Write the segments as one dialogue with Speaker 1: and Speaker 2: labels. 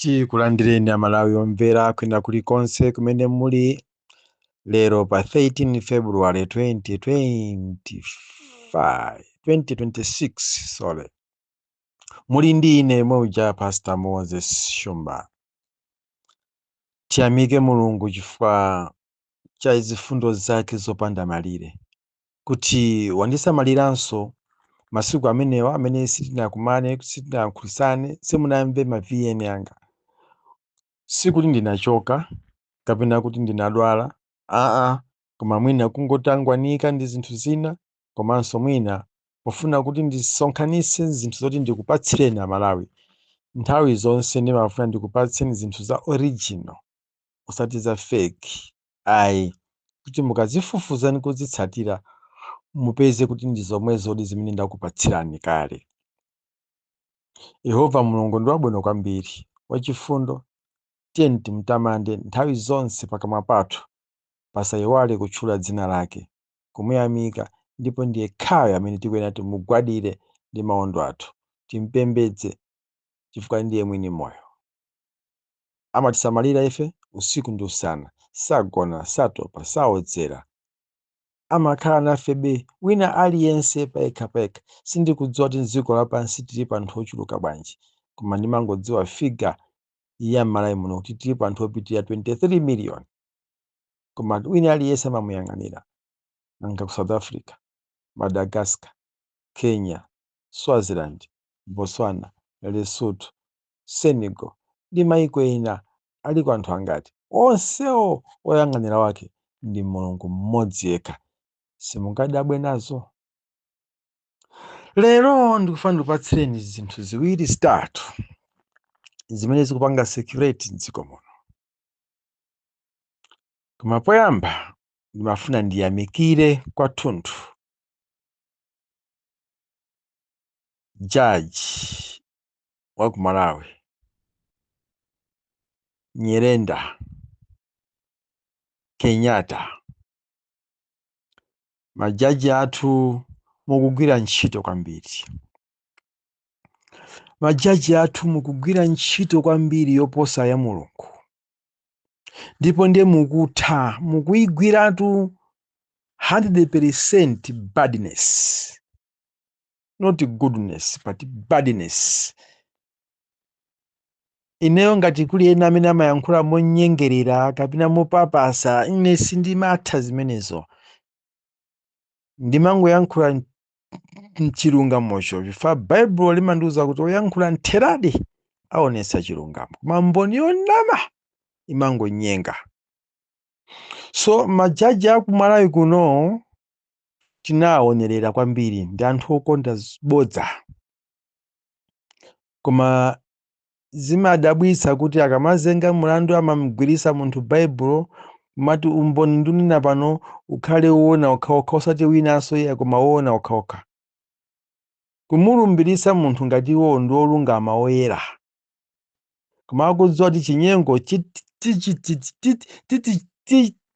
Speaker 1: Tikulandireni a Malawi omvera kwina kuli konse kumene muli lero pa 13 February 2026 sorry. Muli ndi ine yemwe uja Pastor Moses Shumba. Tiyamike Mulungu chifukwa cha zifundo zake zopanda malire. kuti wandisamaliranso masiku amenewa amene sitinakumane sitinayankhulisane simunamve ma vn anga sikuti ndinachoka kapena kuti ndinadwala aa koma mwina kungotangwanika ndi zinthu zina komanso mwina pofuna kuti ndisonkhanitse zinthu zoti ndikupatsireni amalawi nthawi zonse ndimafuna ndikupatseni zinthu za original osati za fake ayi kuti mukazifufuza ndi kuzitsatira mupeze kuti ndi zomwezodi zimene ndakupatsirani kale. Yehova Mulungu ndi wabwino kwambiri, wachifundo. Tiyeni timtamande nthawi zonse pakamwa pathu pasayiwale kutchula dzina lake, kumuyamika ndipo ndi yekhayo amene tikuyenera timugwadire ndi mawondo athu, timpembedze chifukwa ndiye mwini moyo. Amatisamalira ife usiku ndi usana, sagona, satopa, saodzera. Amakhala nafebe, wina aliyense payekhapayekha. Sindikudziwa kuti m'dziko lapansi tilipo anthu ochuluka bwanji, koma ndimangodziwa figa ya m'Malawi muno kuti tilipo anthu opitirira 23 miliyoni. Koma wina aliyense amamuyang'anira. Nanga ku South Africa, Madagascar, Kenya, Swaziland, Botswana, Lesotho, Senegal, ndi maiko ena aliko anthu angati? Onsewo woyang'anira wake ndi Mulungu mmodzi yekha. Simungadabwe nazo? Lero ndikufuna ndikupatsireni zinthu ziwiri zitatu zimene zikupanga circulate m'dziko muno. Koma poyamba ndimafuna ndiyamikire kwathunthu Judge wa ku Malawi Nyirenda Kenyatta, majaji athu mukugwira ntchito kwambiri, majaji athu mukugwira ntchito kwambiri yoposa ya Mulungu, ndipo ndiye mukutha mukuyigwiratu 100% badness. not goodness but badness ineyo ngati kuli ena amene amayankhula monyengerera kapena mopapasa ine sindimatha zimenezo ndimangoyankhula m- mchilungamocho chifukwa baibulo limandiwuza kuti oyankhula mtheradi aonetsa chilungamo koma mboni yonama imangonyenga so majaji akumalawi kuno tinawaonerera kwambiri ndi anthu okonda z- bodza koma zimadabwitsa kuti akamazenga mlandu amamgwiritsa munthu baibulo amati umboni ndunena pano ukhale woona okhaokha osati winanso iye koma woona okhaokha kumulumbiritsa munthu ngati iwowo ndi olungama oyera koma akudziwa kuti chinyengo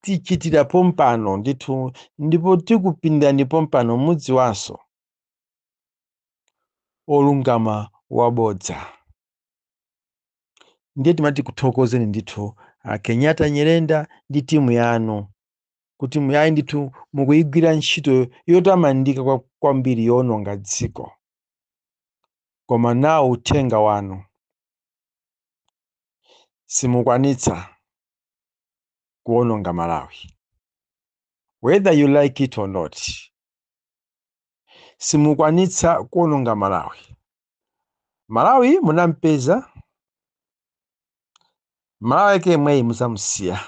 Speaker 1: tichitira pompano ndithu ndipo tikupindani pompano mudziwanso olungama wabodza ndiye timati tikuthokozeni ndithu a kenyatta nyirenda ndi timu yanu kuti iyayi ndithu mukuyigwira ntchito yotamandika kwambiri yoononga dziko koma nawo uthenga wanu simukwanitsa kuononga malawi whether you like it or not simukwanitsa kuononga malawi malawi munampeza malawi yake yemweyi muzamusiya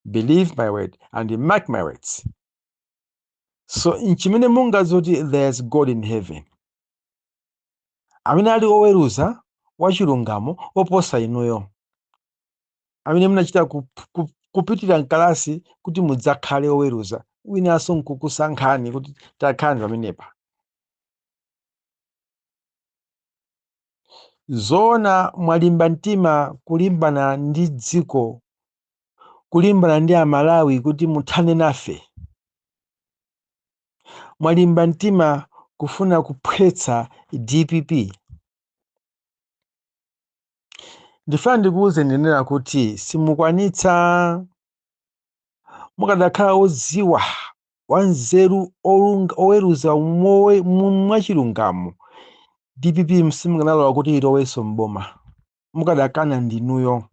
Speaker 1: believe my word and mark my words so nchimene muzadziwe kuti there is god in heaven amene ali oweruza wachilungamo oposa inuyo amene munachita kupitira mkalasi kuti mudzakhale oweruza winanso nkukusankhani kuti takhalani pamenepa zoona mwalimba mtima kulimbana ndi dziko kulimbana ndi amalawi kuti muthane nafe mwalimba mtima kufuna kuphwetsa dpp ndifuna ndikuwuze ndinena kuti simukwanitsa mukadakhala odziwa wanzeru olunga- oweruza mowe- mu- mwachilungamo dpp simukanalola kuti ilowenso mboma mukadakana ndinuyo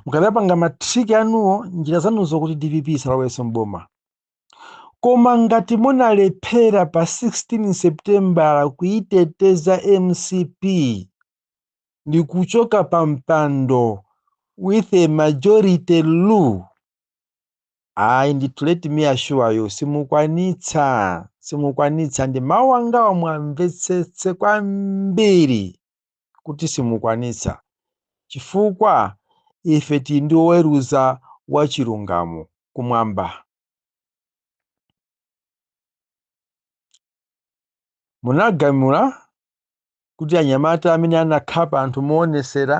Speaker 1: mukadapanga matriki anuwo njira zanuzo kuti dpp isalowenso mboma koma ngati munalephera pa 16 seputembala kuyiteteza mcp ndi kuchoka pa mpando with a majority rule ayi ndithu let me assure you simukwanitsa simukwanitsa ndi mawu angawa muwamvetsetse kwambiri kuti simukwanitsa, chifukwa ife tiri ndi Woweruza wa chilungamo Kumwamba. Munagamula kuti anyamata amene anakhapa anthu mowonetsera,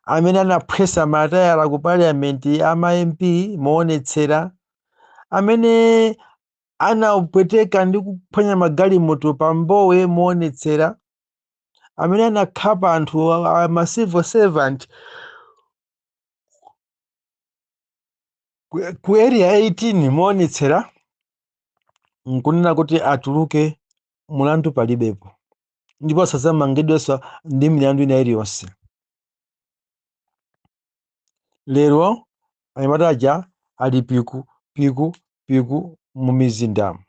Speaker 1: amene anaphwetsa matayala ku Parliament a ma MP mowonetsera, amene anapweteka ndi kuphwanya magalimoto pa Mbowe mowonetsera, amene anakhapa anthu a- a- ma civil servant ku ku area 18 moonetsera nkunena kuti atuluke mulandu palibepo ndipo asadzamangidwenso ndi milandu ina iliyonse lero anyamata aja ali piku piku piku mu mizindamu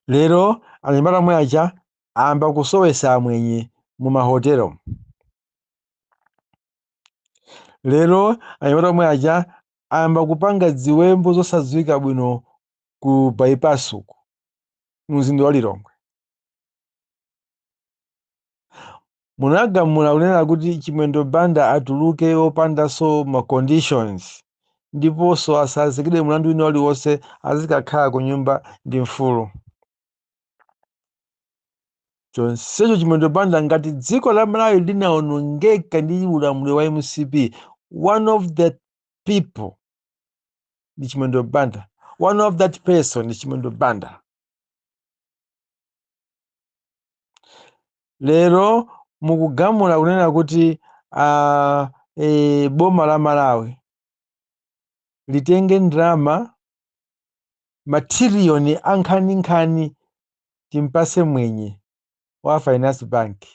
Speaker 1: lero anyamata omwe aja ayamba kusowesa amwenye mu mahotelo lero anyamata omwe aja ayamba kupanga ziwembu zosadziwika bwino ku bypass uku mzinda wa lilongwe Munagamula kunena kuti Chimwendo Banda atuluke wopandanso ma conditions ndiponso asazikidwe mlandu wina uliwonse azikakhala kunyumba ndi mfulu. Chonsecho Chimwendo Banda ngati dziko la Malawi linawonongeka ndi ulamuliro wa mcp, one of the people ndi Chimwendo Banda, one of that person ndi Chimwendo Banda. lero mukugamula kunena kuti uh, e, boma la malawi litenge ndalama matiriyoni ankhaninkhani timpase mwenye wa finance bank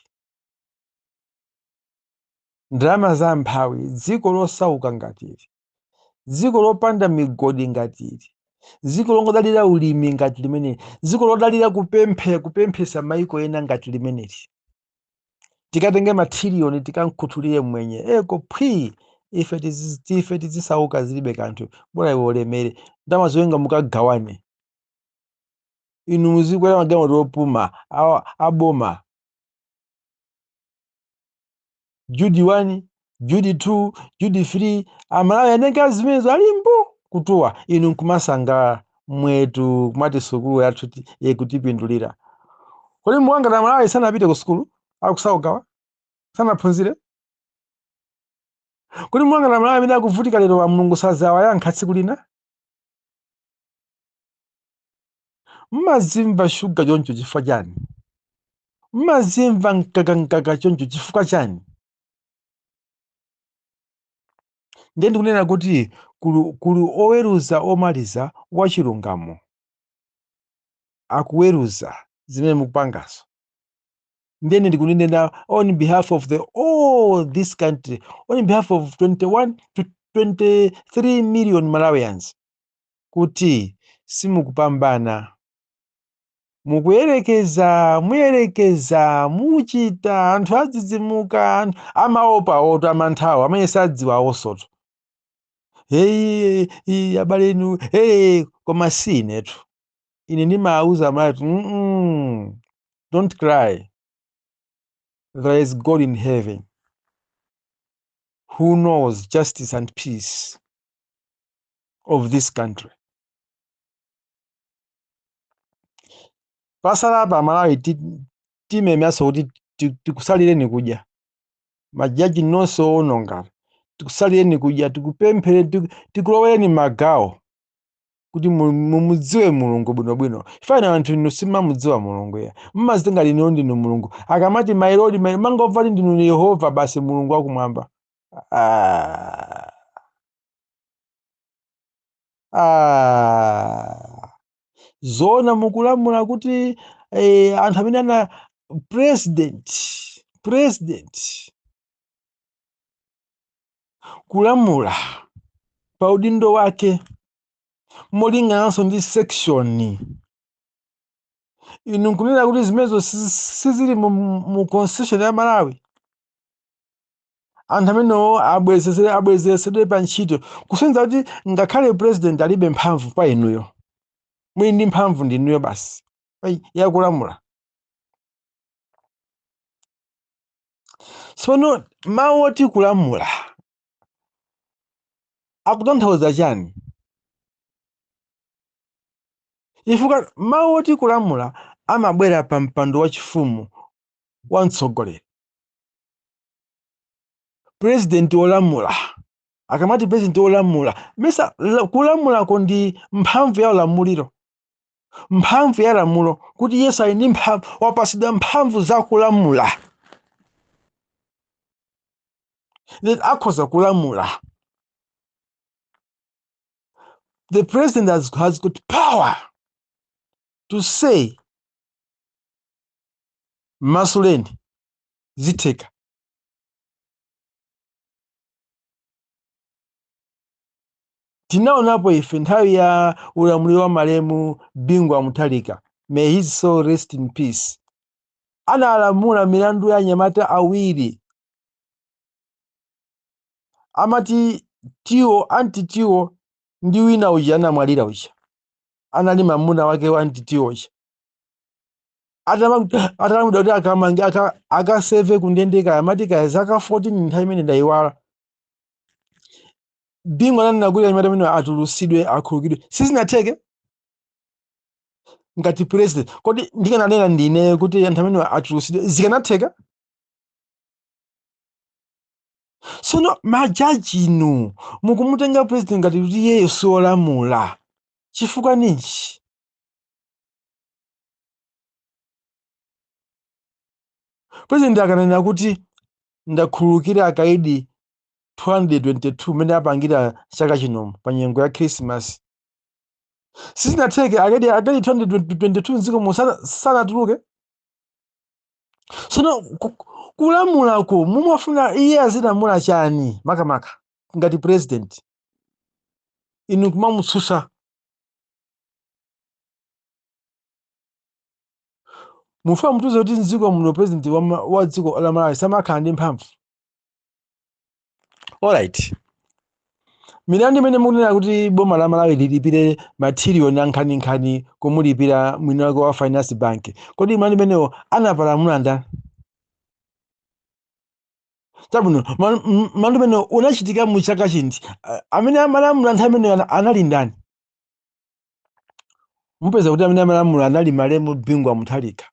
Speaker 1: ndalama za mphawi dziko losauka ngati ili dziko lopanda migodi ngati ili dziko longodalira ulimi ngati limeneli dziko lodalira kupemphe kupemphetsa maiko ena ngati limeneli tikatenge matiriyoni tikamkhuthulire mwenye uko phwii ife tizi- tife tizisauka zilibe kanthu bora iwe ulemere ndalama zoyenga mukagawane inu muzikwera magalimoto opuma awa- aboma judi 1 judi 2 judi 3 amalawi anenga zimenezo ali mbu kutuwa inu nkumasangalala mwetu kumati sukulu yathu ti- ikutipindulira kodi muwangati amalawi sanapite ku sukulu akusaukawa sanaphunzire kodi muwangati amalawi amene akuvutika lero wa mulungu sazawayankha tsiku lina mmazimva shuga choncho chifukwa chani mmazimva mkakankaka choncho chifukwa chani ndiye ndikunena kuti kuli, kuli oweruza omaliza wachilungamo akuweruza zimene mukupangazo ndiye ndikunena on behalf of the all this country on behalf of 21 to 23 million malawians kuti simukupambana mukuyerekeza muyerekeza muchita anthu adzidzimuka anthu amaopa oto amanthawo amene sadziwa awosoto heyi abale inu hey, koma si inetu ine ndimawuza amalawi kuti "Mm-mm, don't cry there is god in heaven who knows justice and peace of this country pasala apa malawi ti- timemanso kuti ti- tikusalireni kudya majaji nonse owononga tikusalireni kudya tikupemphereni tiku- tikulowereni magawo kuti mu- mumudziwe mulungu bwinobwino chifukwa anthu inu simumudziwa mulungu inu mmazitenga ngati inu ndinu mulungu akamati my lord my mangomva kuti ndinu ni yehova basi mulungu wakumwamba ah. ah. zoona mukulamula kuti eh, anthu amene ana president president kulamula pa udindo wake molingananso ndi section inu nkunena kuti zimenezo si- sizili mu, mu constitution ya malawi anthu amenewo abwezezere abwezeresedwe pa ntchito kusonyeza kuti ngakhale president alibe mphamvu pa inuyo mwini mphamvu ndi inuyo basi yakulamula Tsono mawu oti kulamula akutanthauza chani? Chifukwa mawu oti kulamula amabwera pa mpando wachifumu wa mtsogoleri, pulezidenti wolamula. Akamati pulezidenti wolamula, mesa la- kulamulako ndi mphamvu ya ulamuliro mphamvu ya lamulo kuti yesu ali ndi mphamvu wapatsidwa mphamvu za kulamula that akhoza kulamula the president has got power to say masuleni zitheka tinaonapo ife nthawi ya ulamuliro wa malemu bingu wa mutharika may his soul rest in peace analamula milandu ya anyamata awiri amati tiwo anti tiwo ndi wina uja anamwalira uja anali mamuna wake wa anti tiwo uja atalamula kuti akamange aka- akaseve kundende kaya amati kaya zaka 14 nthawi imene ndayiwala bingu ananena kuti anyamata amenewa atulusidwe akhululukidwe sizinatheke ngati president kodi ndikananena ndine kuti anthu amenewa atulusidwe zikanatheka tsono majaji inu mukumutenga president ngati kuti iyeyo siolamula chifukwa ninji pulezidenti akananenera kuti ndakhululukira akaidi 222 mmene apangira chaka chinomo pa nyengo ya khrisimasi sizinatheke akaidi 222 mdziko muno sana- sanatuluke tsono ku- kulamulako mumafuna iye azilamula chani makamaka ngati purezidenti inu kumamutsutsa mufuna mutiuze kuti mdziko muno president wa, ma- wa dziko la malawi samakhala ndi mphamvu alright milandu imene mukunena kuti boma la malawi lilipire mathiriyoni ankhaninkhani kumulipira mwini wake wa finance bank kodi mlandu imenewo anapalamula ndani chabwino ma- m- mlandu imenewo unachitika mu chaka chiti Ah, amene amalamula nthawi imeneyo ana- anali ndani mupeza kuti amene amalamula anali malemu bingu wa mutharika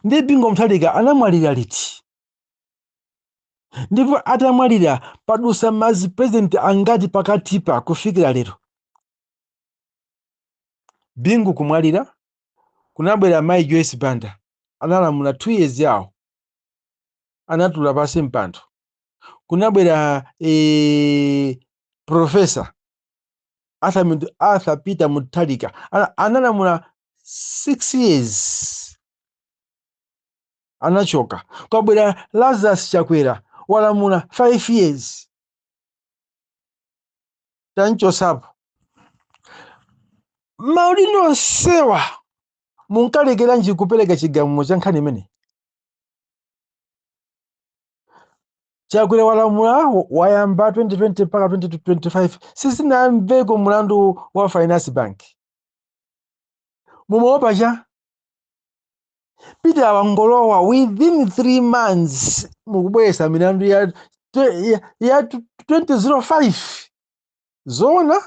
Speaker 1: ndi bingu wa mutharika anamwalira liti ndipo atamwalira padutsa mazipresident angati pakatipa kufikira lero bingu kumwalira kunabwera mayi joyce banda analamula two years yawo anatula pansi mpando kunabwera e, profesa Arthur, Mut- Arthur Peter Mutharika ana- analamula 6 years anachoka. Kwabwera Lazarus Chakwera walamula 5 years tamchotsapo. Maudindo onsewa munkalekeranji kupereka chigamulo cha nkhani imeneyi? chakwera walamula wayamba 2020 mpaka 2025 sizinamveko mulandu wa finance bank mumaopa cha peter wangolowa within three months mukubweretsa milandu ya, ya, ya 2005 zoona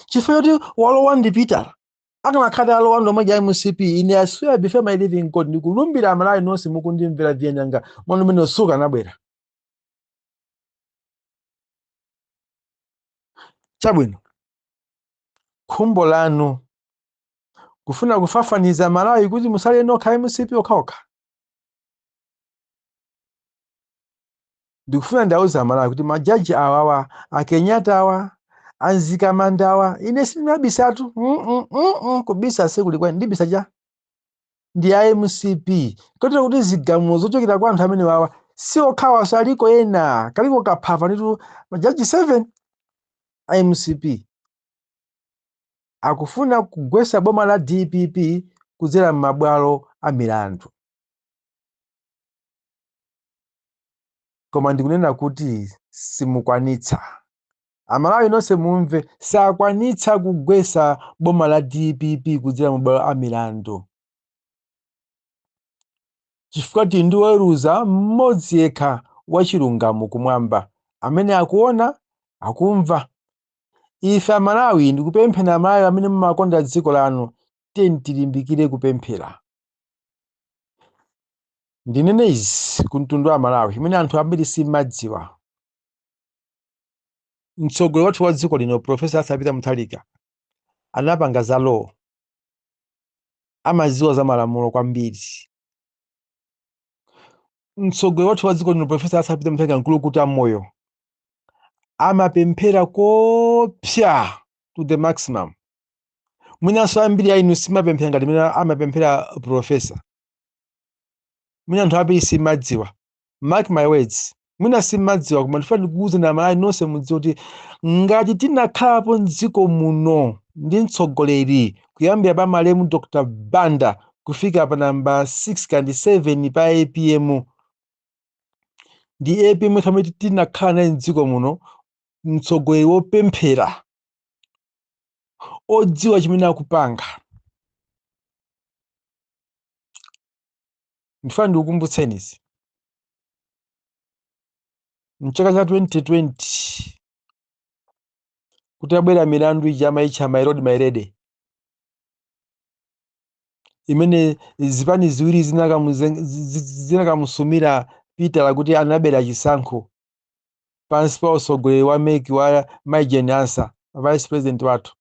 Speaker 1: chifukwa choti walowa ndi peter akanakhala alowa ndi omwe aja a mcp ine i swear before my living god ndikulumbira amalawi nonse mukundimvera vyenyanga mwana umene usuka anabwera chabwino khumbo lanu kufuna kufafaniza malawi kuti mutsale inu nokha mcp okhaokha ndikufuna ndiwauze amalawi kuti majaji awawa akenyatawa anzikamandawa ine sindinabisatu mm -mm, mm -mm, kubisa sikulikwa ndibisa cha ndi a mcp kotero kuti zigamulo zochokera kwa anthu amene wawa si okhawanso aliko ena kaliko kagwa nditu majaji 7 a mcp akufuna kugwesa boma la dpp kudzera m'mabwalo a milandu koma ndikunena kuti simukwanitsa amalawi nonse mumve sakwanitsa kugwesa boma la dpp kudzera m'mabwalo a milandu chifukwa tili ndi woweruza mmodzi yekha wachilungamo kumwamba amene akuona akumva ife amalawi ndikupemphani amalawi amene mumakonda dziko lanu tiyeni tilimbikire kupemphera ndinene izi ku mtundu wa malawi imene anthu ambiri simumadziwa mtsogoleri wathu wa dziko lino profesa arthur peter mutharika anapanga za law amadziwa za malamulo kwambiri mtsogoleri wathu wa dziko lino profesa arthur peter mutharika mkulukutamoyo amapemphera koopsa to the maximum mwinanso ambiri a inu simapemphera ngati mmene amapemphera profesa mwina anthu ambiri simadziwa mark my words mwina simadziwa koma ndifuna ndikuwuzeni amalawi nonse mudziwe kuti ngati tinakhalapo mdziko muno ndi mtsogoleri kuyambira pa malemu dr banda kufika pa namba 6 kaya ndi 7 pa apm ndi apm yekha amene tinakhala naye mdziko muno mtsogoleri wopemphera odziwa chimene akupanga ndifuna ndikukumbutseni izi mchaka cha 2020 kutabwera milandu ija amayitcha my lord my lady imene zipani ziwiri zinakamuzen- zi- zi- zinakamusumira peter kuti anabera chisankho pansi pa utsogoleri wa meki wa mayi jane ansah vice president wathu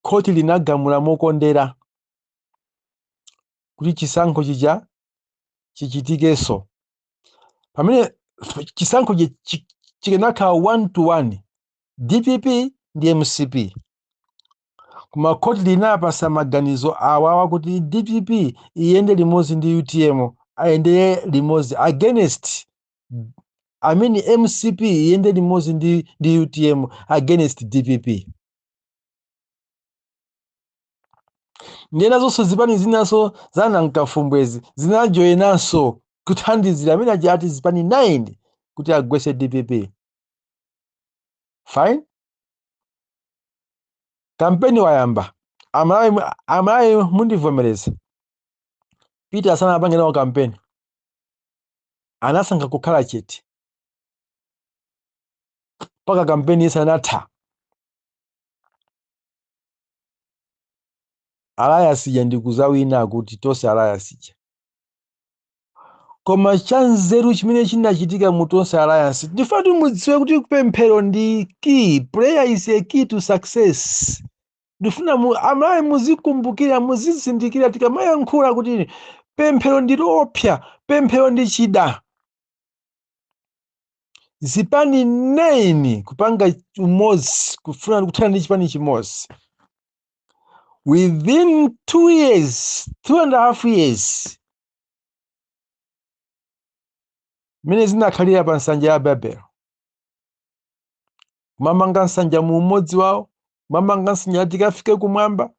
Speaker 1: khoti linagamula mokondera kuti chisankho chija chichitikenso pamene chisankho chi- chi- chikanakhala one to one dpp ndi mcp koma khoti linapasa maganizo awawa kuti dpp iyende limodzi ndi utm ayende limodzi against I mean mcp iyende limodzi ndi, ndi utm against dpp ndiyeno zonse zipani zinanso zanamkafumbwezi zinajoyinanso kuthandizira amene aja ati zipani 9 kuti agwese dpp fine kampeni wayamba amalawi mu- amalawi mundivomereze peter sanapange nawo kampeni anasankha kukhala chete mpaka kampeni inatha alliance ija ndikuzawina akuti tonse alliance ija koma chanzeru chimene chinachitika mu tonse alliance ndifuna kuti mudziwe kuti pemphero ndi key prayer is a key to success ndifuna mu- amalawi muzikumbukira muzizindikira tikamayankhula kuti pemphero ndi loopsa pemphero ndi chida zipani 9 kupanga umodzi kufuna kuthana ndi chipani chimodzi within two years two and a half years mmene zinakhalira pa nsanja ya babele kumamanga nsanja mu umodzi wawo kumamanga nsanja ati ikafike kumwamba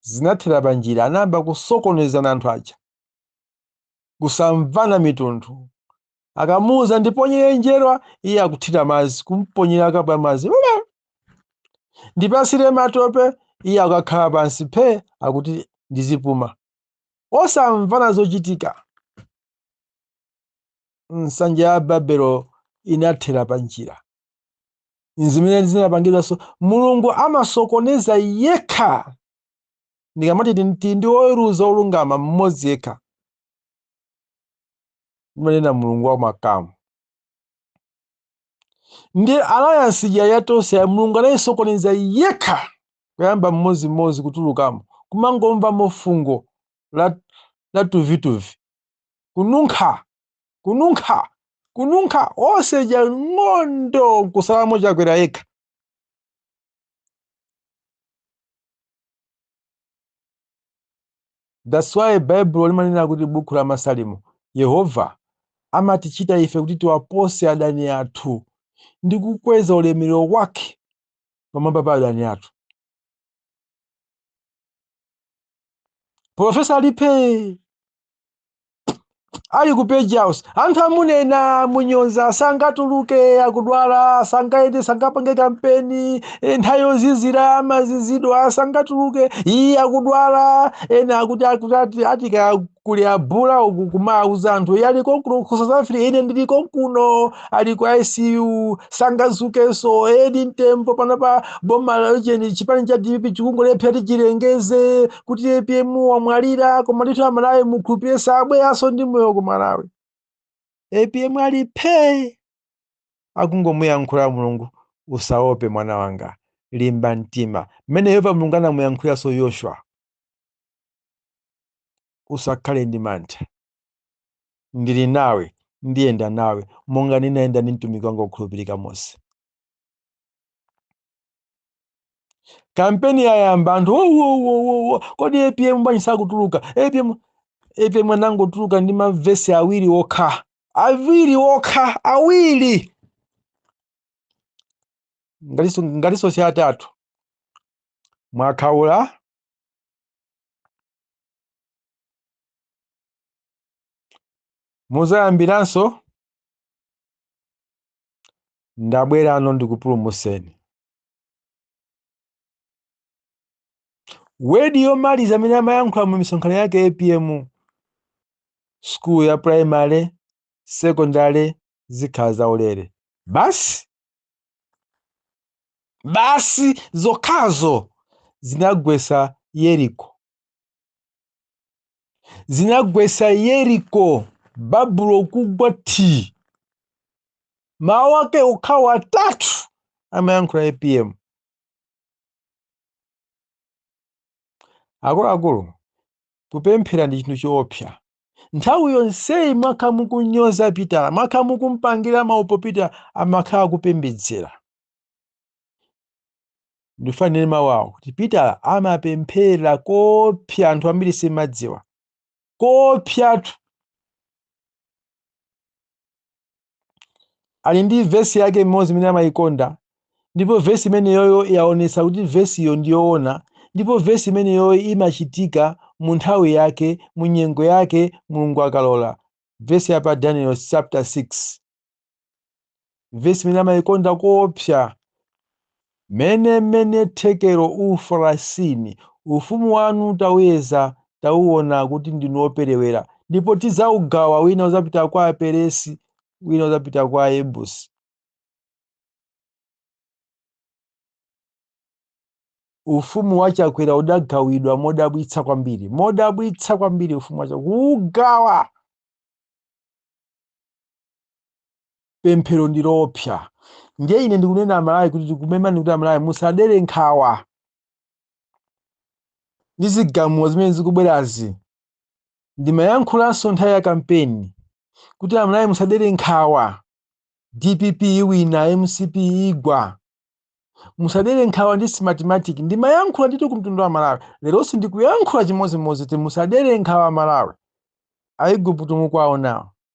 Speaker 1: zinathera pa njira anayamba kusokonezana anthu aja kusamvana mitundu akamuuza ndiponyere njerwa iye akuthira madzi kumponyera kapu ya madzi ndipasire matope iye akakhala pansi phe akuti ndizipuma osamvana zochitika nsanja ya babelo inathera pa njira zimene zinapangidwanso mulungu amasokoneza yekha ndikamati tili ndi woweruza olungama mmodzi yekha ndimanena mulungu wa makamu ndi alliance ija ya tonse mulungu anayisokoneza yekha kuyamba mmodzimmodzi kutulukamo kumangomvamo fungo la, la tuvituvi kununkha kununkha kununkha onse ja ng'ondo nkusalamo chakwera yekha That's why Baibulo limanena kuti buku la Masalimo, Yehova amatichita ife kuti tiwapose adani athu ndi kukweza ulemerero wake pamwamba pa adani athu. Profesa Lipe ali ku page house anthu amunena monyoza sangatuluke akudwala sangaende sangapange kampeni eh, nthawi yozizira amazizidwa sangatuluke iye akudwala ena akuti akuti ati- atika kuli abula uku kumauza anthu iye ali konkuno ku south africa ine ndili konkuno ali ku icu sangazukenso ndi mtembo panopa boma la ujeni chipani cha dpp chikungolephera kuti chilengeze kuti apm wamwalira koma ndithu amalawi mukhulupire sabweranso ndi moyo ku malawi apm ali phee akungomuyankhula mulungu usaope mwana wanga limba mtima mmene yehova mulungu anamuyankhulanso yoshua usakhale ndi mantha ndili nawe ndiyenda nawe monga ndinayenda ndi mtumiki wanga wokhulupirika mose kampeni yayamba anthu wowowowowo kodi apm bwanji sakutuluka apm apm anangotuluka ndi mavesi awiri okha awiri okha awiri ngatinso ngatinso si atatu mwakhaula muzayambiranso ndabwerano ndikupulumuseni. Word yomaliza amene amayankhula mu misonkhano yake APM school ya primary, secondary zikhala zaulere. Basi basi zokhazo zinagwesa Yeriko. zinagwesa yeriko babulo kugwa thi mawu ake okhawo atatu amayankhula apm akuluakulu kupemphera ndi chinthu choopsa nthawi yonseyi mwakha mukunyoza pitala mwakha mukumpangira maupo pitala amakhala akupembedzera ndifuna ndinene mawu awo kuti pitala amapemphera koopsa anthu ambiri simadziwa koopsatu ali ndi vesi yake imodzi imene amayikonda ndipo vesi imeneyoyo yaonetsa kuti vesiyo ndiyoona ndipo vesi imeneyoyo imachitika mu nthawi yake mu nyengo yake mulungu akalola vesi ya pa daniel chapter 6 vesi imene amayikonda koopsa mene mene thekero ufarasini ufumu wanu tawuyeza tawuona kuti ndinu operewera ndipo tidzawugawa wina udzapita kwa aperesi wina udzapita kwa ayebusi ufumu wa chakwera udagawidwa modabwitsa kwambiri modabwitsa kwambiri ufumu wa chakwera kuwugawa pemphero ndi loopsa ndiye ine ndikunena amalawi kuti tikumemani kuti amalawi musadere nkhawa ndi zigamulo zimene zikubwerazi ndimayankhulanso nthawi ya kampeni kuti amalawi musadere nkhawa dpp iwina mcp igwa musadere nkhawa ndi smartmatic ndimayankhula ndithu kumtundu wa malawi leronso ndikuyankhula chimodzimodzi kuti musadere nkhawa malawi aigupto mukuwaonawo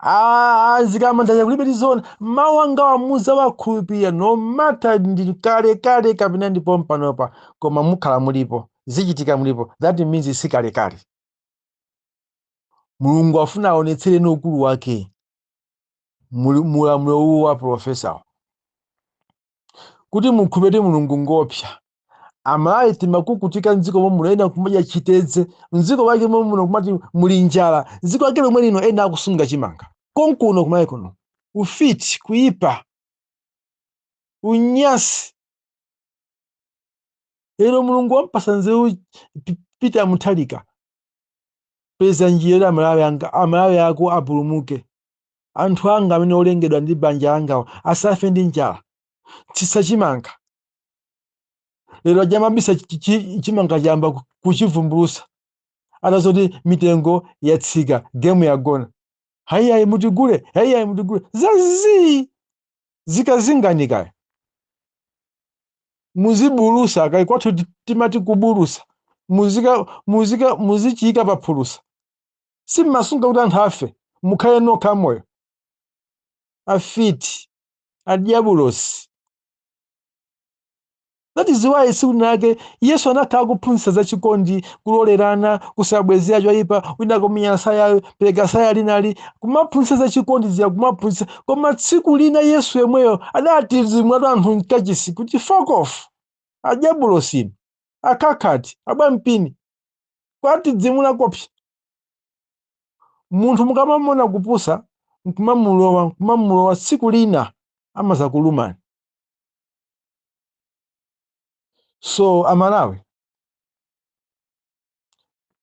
Speaker 1: Ah, zikamandanya kulibe tiziona mawu angawa muzawakhulupirira no matter ndi kale kale kapena ndi pompanopa koma mukhala mulipo zichitika mulipo that means si kale kale mulungu afuna aonetsereni ukulu wake mu ulamuliro uwu wa profesa kuti mukhulupirire kuti mulungu ngoopsa amalawi timakukutika mdziko momuno ena kumadya chitedze mdziko mwake momuno kumati muli njala dziko lake lomwe lino ena akusunga chimanga konkuno kumalawi kuno ufiti kuipa unyasi lero mulungu wampasa nzeru peter muthalika peza njira kuti amalawi anga amalawi ako apulumuke anthu anga amene olengedwa ndi banja langawo asafe ndi njala tsitsa chimanga lero aja amabisa chi- chi- chimanga chayamba ku- kuchivumbulusa atazoti mitengo yatsika gemu yagona hayiyayi mutigule hayiyayi mutigule zazii zikazinganika muzibulusa kaya kwathu ti- timati kubulusa muzika muzika muzichiyika paphulusa simmasunga kuti anthu afe mukhale nokha amoyo afiti adyabulosi that is why tsiku linalake yesu anakhala akuphunzitsa za chikondi kulolerana kusabwezera choyipa wina kumenya sayayo pereka tsaya linali kumaphunzitsa za chikondi zija kumaphunzitsa koma tsiku lina yesu yemweyo adatidzimulatu anthu mkachisi kuti fuck off adyabulosi akhakhati abwampini kuwatidzimula koopsa munthu mukamamuona kupusa nkumamulowa nkumamulowa tsiku lina amadzakulumani so amalawi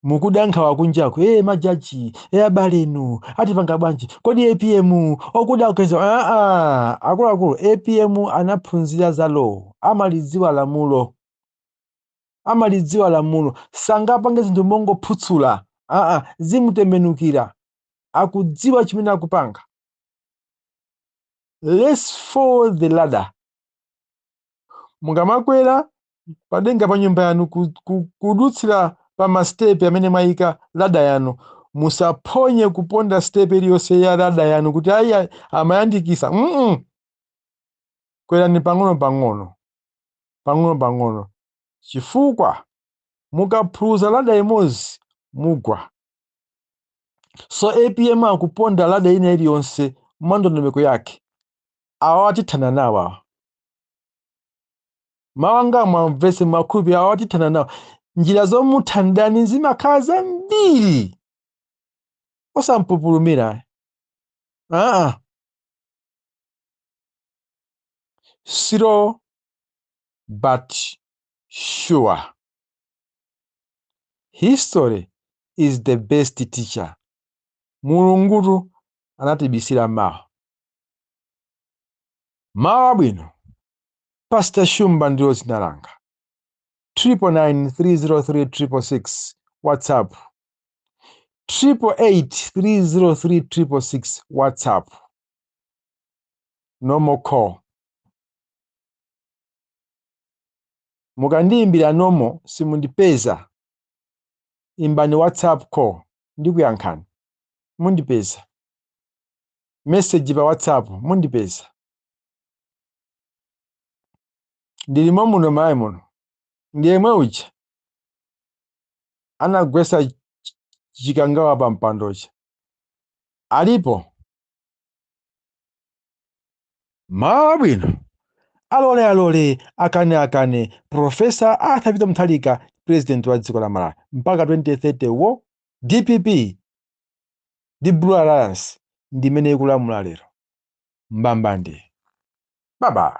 Speaker 1: mukuda nkhawa kunjaku e majaji e abalenu atipanga bwanji kodi apm okuda kukeza aa akuluakulu apm anaphunzira za law amalidziwa lamulo amalidziwa lamulo sangapange zinthu mongophutsula aa zimutembenukira akudziwa chimene akupanga let's follow the ladder mukamakwera padenga pa nyumba yanu ku- ku- kudutsira pa masitepe amene mwayika lada yanu musaphonye kuponda sitepe iliyonse ya lada yanu kuti ayi ayi, amayandikisa mm kwerani pang'ono pang'ono pang'onopang'ono chifukwa mukaphuluza lada imodzi mugwa so apm akuponda lada ina iliyonse mwandondomeko yake awawa tithana nawo awa mawu anga muwamvetse muwakhulupirire awawa tithana nawo njira zomutha mdani zimakhala zambiri osampupulumira aa slow but sure history is the best teacher mulungutu anatibisira mawa mawa abwino pastor shumba ndilo dzina langa 999303666 whatsapp 888303666 whatsapp normal call mukandiyimbira normal simundipeza imbani whatsapp call ndikuyankhani mundipeza message pa whatsapp mundipeza ndilimo muno mayi muno ndiyemwe uja anagwesa chikangawa pa mpandocha alipo mawa abwino alole alole akane akane profesa arthur peter mutharika president wa dziko la malawi mpaka 2030 wo dpp ndi blue alliance ndi imene ikulamula lero mbambande baba